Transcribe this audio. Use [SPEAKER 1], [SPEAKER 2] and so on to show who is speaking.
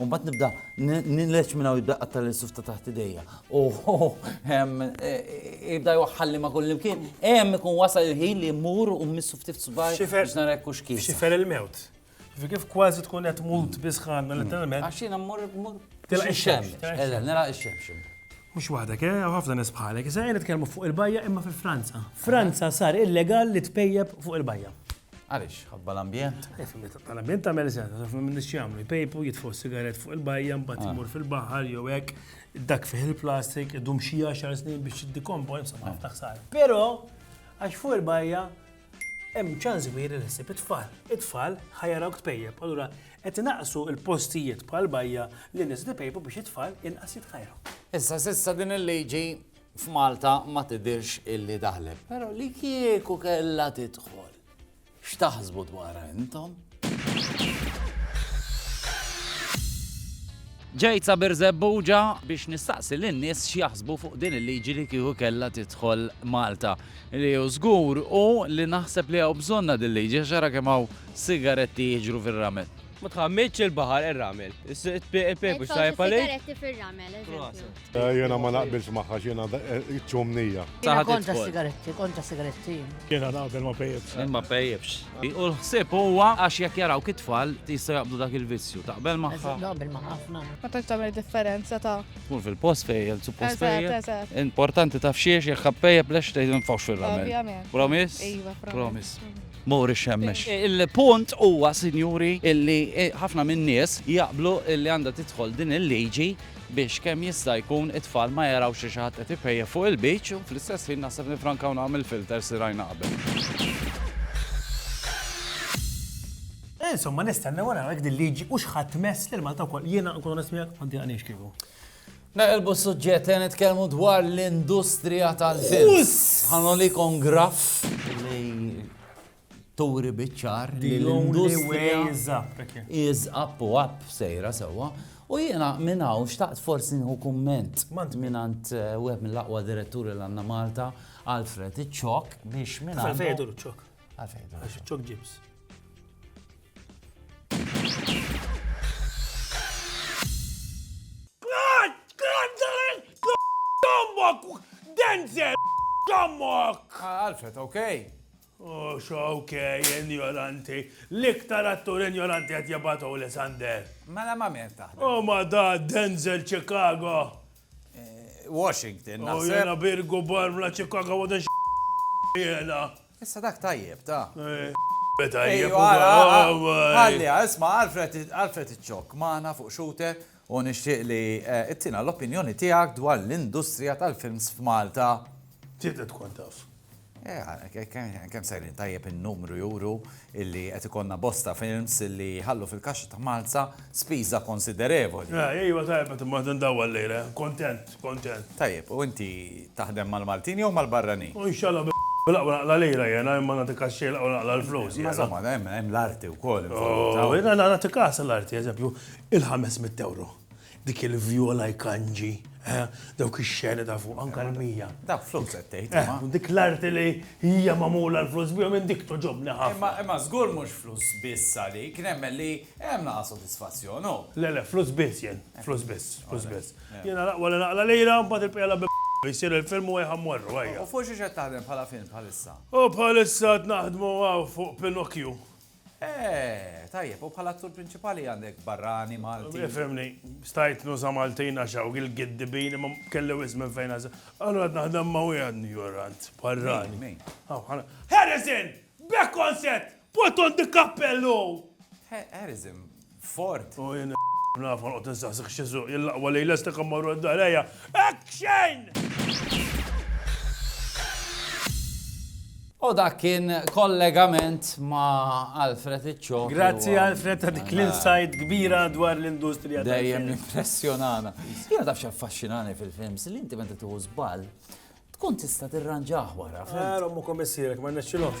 [SPEAKER 1] U mbagħad nibda nillex minn hawn jibda qatta' l-suf ta' taħt idejja. U jibda jwaħħalli ma' kullimkien. Hemm ikun wasal il-ħin li mmur u mmissu ftit subaj biex nara jekk hux kif. Xifer il-mewt.
[SPEAKER 2] Kif kważi tkun qed mut bisħan letteralment. Għax jiena mmur mmur.
[SPEAKER 1] Tilaq ix-xemx.
[SPEAKER 2] Eżatt, nilaq ix-xemx.
[SPEAKER 1] Mhux waħdek,
[SPEAKER 2] eh? Ħafna nies bħalek. Issa qed nitkellmu fuq il-bajja imma fi Franza. Franza sar illegal li tpejjep fuq il-bajja. Għaliex? Ħabba
[SPEAKER 1] l-ambjent? L-ambjent tagħmel
[SPEAKER 2] sens, għax ma minnix jagħmlu jpejpu, jitfgħu sigaret fuq il-bajja, mbagħad imur fil-baħar jew hekk, dak fih il-plastik, idum xi 10 snin biex jiddikompo, insomma ħafna ħsar. Però għax fuq il-bajja hemm ċans kbir li ħsib it-tfal. It-tfal ħajarawk tpejjeb. Allura qed naqsu l-postijiet bħal bajja li nies li pejpu biex it-tfal inqas jitħajru. Issa sissa din
[SPEAKER 1] il-liġi f'Malta ma tidhirx illi daħlet, però li kieku kellha tidħol, x'taħsbu dwarha intom? Ġejt sa Birżebbuġa biex nistaqsi lin-nies x'jaħsbu fuq din il-liġi li kieku kellha tidħol Malta. Li hu żgur u li naħseb li hawn bżonna din liġi għax ara kemm hawn sigaretti jiġru fir-ramel. Ma tħammitx
[SPEAKER 3] il-baħar ir-ramel. Is-pepe mhux tajjeb għalik. Sigaretti fir-ramel,
[SPEAKER 4] eżempju. Eh, jena
[SPEAKER 5] ma naqbilx maħħa xena eh, ċumnija. Jena kontra
[SPEAKER 6] sigaretti, kontra sigaretti. Jena naqbel
[SPEAKER 2] ma pejibx. Ma pejibx.
[SPEAKER 1] U l-ħsib huwa għax jek jaraw kitfall tista jaqbdu dak il-vizzju. Taqbel maħħa. Naqbel maħħa ħafna.
[SPEAKER 6] Ma tax tagħmel differenza
[SPEAKER 7] ta' Kun fil-post fejjel,
[SPEAKER 1] suppost fejjel. Importanti
[SPEAKER 7] taf xiex
[SPEAKER 1] jekk ħappejjeb lex tgħid nfawx fil-ramel. Promis? Iva, promis. Mori xemmex. Eh, il-punt huwa, sinjuri, illi ħafna minn nies jaqblu illi għandha tidħol din il-liġi biex kemm jista' jkun it-tfal ma jarawx li xi ħadd qed ipejjep fuq il-beach u fl-istess ħin naħseb nifrankaw naħa mill-filters li rajna qabel.
[SPEAKER 2] Insomma, nistennew u naraw jekk din liġi hux ħadd tmess lil Malta wkoll. Jiena nkun onest miegħek ma ddiqanix kieku. Naqilbu
[SPEAKER 1] s-suġġett li nitkellmu dwar l-industrija tal-film. Ħanoli kon graff li turi biċ-ċar li l-industrija is up u up sejra sewwa. U jiena minn hawn xtaqt forsi nħu kumment minn għand eh, wieħed mill-aqwa diretturi l għandna Malta, Alfred Iċċok, biex minn għandu.
[SPEAKER 2] Għalfejdu l-ċok. Għalfejdu. Għax ċok ġibs. Denzel! Dommok!
[SPEAKER 1] Ah, Alfred, okay. Ux
[SPEAKER 2] ok, injoranti. L-iktar attur injoranti qed jibgħatu li Sander. Mela ma minn
[SPEAKER 1] taħdem. Oh ma da
[SPEAKER 2] Denzel Chicago.
[SPEAKER 1] Washington, naħseb. Oh jena
[SPEAKER 2] Birgu Barmla Chicago wada jena. Issa dak
[SPEAKER 1] tajjeb, ta' Beta
[SPEAKER 2] jibba. Għalli,
[SPEAKER 1] isma, Alfred iċċok maħna fuq xute U nixtieq li ittina l-opinjoni tiegħek dwar l-industrija tal-films f'Malta. Trid tkun
[SPEAKER 2] taf.
[SPEAKER 1] Kemm sejrin tajjeb in-numru juru illi qed ikollna bosta films illi jħallu fil-kaxxa ta' Malta spiża konsiderevoli. Ejwa tajjeb qed
[SPEAKER 2] immur indawwar llejla. Kuntent, kuntent. Tajjeb, u
[SPEAKER 1] inti taħdem mal-Maltin jew mal-barranin? Inshallah
[SPEAKER 2] bil-aqwa naqla' lira jiena, imma nagħti kaxxi il-aqwa naqla' l-flus jiena. Imma żomma, hemm
[SPEAKER 1] l-arti wkoll involuta. Jiena nagħti
[SPEAKER 2] kaxxa l-arti, eżempju. Il-ħames mitt ewro. Dik il-vjola jkanġi, eh, dawk ix-xeni ta' fuq, anke l-mija. Dawk flus qed tgħid,
[SPEAKER 1] imma. Eh, u dik l-arti li
[SPEAKER 2] hija magħmula l-flus bihom jien dik togħġobni ħafna. Imma, imma żgur mhux flus
[SPEAKER 1] biss għalik, nemmen li hemm naqa' sodisfazzjon, hu. Le, le, flus biss jien,
[SPEAKER 2] flus biss, flus biss. Jiena l-aqwa li naqla lira, mbagħad il-bqija la b' jsir il-film u ejja mmorru, ejja. U fuq xiex qed taħdem
[SPEAKER 1] bħala film bħalissa? U bħalissa
[SPEAKER 2] qed naħdmu hawn fuq Pinocchio.
[SPEAKER 1] Eeh, tajjeb, u bħala attur prinċipali għandek barrani, Malti. Ifhimni, stajt
[SPEAKER 2] nuża' Maltin għax hawn il-giddibin imma kelli wisq minn fejn għażel. Allura qed naħdem ma' wieħed njorant, barrani. Min, min? Harrison! B'hekk kont sett! Button di kappellu! Harrison,
[SPEAKER 1] Fort!
[SPEAKER 2] U jien naf ħolqot nsaħsik x'isuq jillaqwa lejl estek immorru d-dar ejja. Action!
[SPEAKER 1] U dak kien kollegament ma' Alfred Iċċo. Grazzi Alfred ta'
[SPEAKER 2] dik l-insight kbira dwar l-industrija. Dejjem impressjonana.
[SPEAKER 1] Jena taf xaffaxxinani fil-films li inti meta tuħu żball tkun tista'
[SPEAKER 2] tirranġah wara. Għara
[SPEAKER 1] mu komissirek
[SPEAKER 2] ma nexxilhomx.